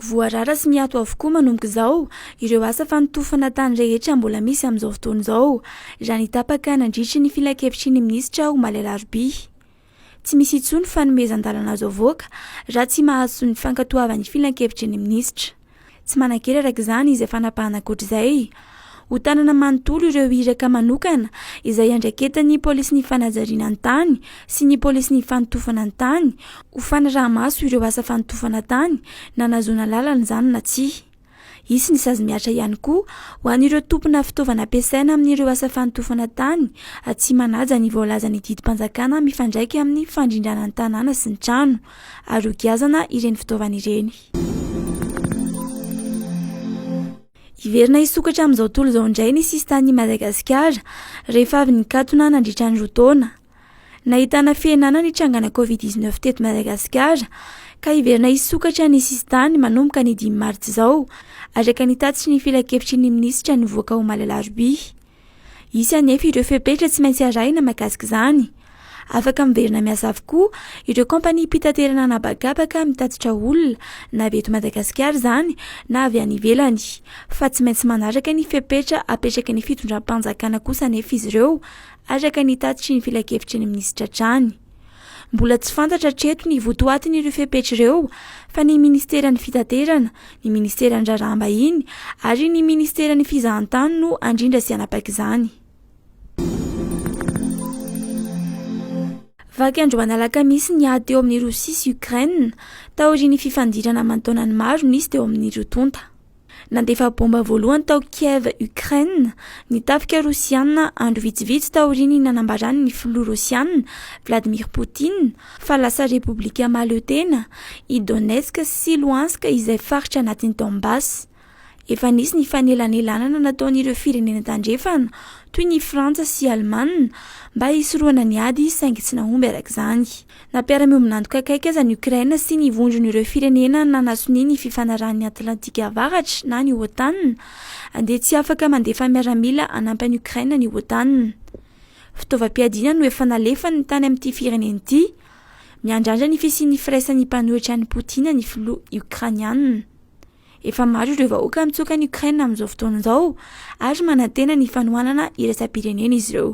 Voarara sy miato avokoa manomboka izao ireo asa fanotofana tany rehetra mbola misy amin'izao fotoana izao, raha ny tapaka nandritry ny filankevitry ny minisitra omaly alarobia. Tsy misy intsony fanomezan-dalana azo avoaka raha tsy mahazo ny fankatoavan'ny filankevitry ny minisitra. Tsy manan-kery araka izany izay fanapahana ankoatr'izay. ho tanana manontolo ireo iraka manokana izay iandraiketan'ny polisin'ny fanajariana ny tany sy ny polisin'ny fanotofana ny tany ho fanaraha-maso ireo asa fanotofana tany na nahazoana lalana izany na tsia. Hisy ny sazy mihatra ihany koa ho an'ireo tompona fitaovana ampiasaina amin'ireo asa fanotofana tany tsy manaja ny voalazan'ny didim-panjakana mifandraika amin'ny fandrindrana ny tanàna sy ny trano ary hogiazana ireny fitaovana ireny. Hiverina hisokatra amin'izao tontolo izao indray ny sisin-tanin'i Madagasikara rehefa avy nikatona nandritra ny roa taona. Nahitana fihenana ny trangana Covid 19 teto Madagasikara ka hiverina hisokatra ny sisin-tany manomboka ny dimy martsa izao, araka ny tatitry ny filankevitry ny minisitra nivoaka omaly alarobia. Hisy anefa ireo fepetra tsy maintsy arahina mahakasika izany. Afaka miverina miasa avokoa ireo kaompaniam-pitaterana an'habakabaka mitatitra olona, na avy eto Madagasikara izany na avy any ivelany. Fa tsy maintsy manaraka ny fepetra apetraky ny fitondram-panjakana kosa anefa izy ireo, araka ny tatitry ny filankevitry ny minisitra hatrany. Mbola tsy fantatra hatreto ny votoatin'ireo fepetra ireo fa ny Ministeran'ny Fitaterana, ny Ministeran'ny Raharaham-bahiny ary ny Ministeran'ny Fizahantany no handrindra sy hanapaka izany. Vaky androany alakamisy ny ady teo amin'i Rosia sy Ukraine, taorian'ny fifandirana aman-taonany maro nisy teo amin'ireo tonta. Nandefa baomba voalohany tao Kiev, Ukraine, ny tafika Rosiana andro vitsivitsy taorian'ny nanambaran'ny filoha Rosiana, Vladimir Putin, fa lasa repoblika mahaleo tena i Donetsk sy Luhansk izay faritra anatin'i Donbas. Efa nisy ny fanelanelanana nataon'ireo firenena tandrefana, toy ny Frantsa sy Alemana, mba hisorohana ny ady saingy tsy nahomby araka izany. Na mpiara-miombon'antoka akaiky aza ny Ukraine sy ny vondron'ireo firenena nanasonia ny Fifanarahan'ny Atlantika Avaratra na ny OTAN, dia tsy afaka mandefa miaramila hanampy an'i Ukraine ny OTAN. Fitaovam-piadiana no efa nalefany tany amin'ity firenena ity. Miandrandra ny fisian'ny firaisan'ny mpanohitra an'i Poutine ny filoha Ukrainiana. Efa maro ireo vahoaka mitsoaka an'i Ukraine amin'izao fotoana izao ary manantena ny fanohanana iraisam-pirenena izy ireo.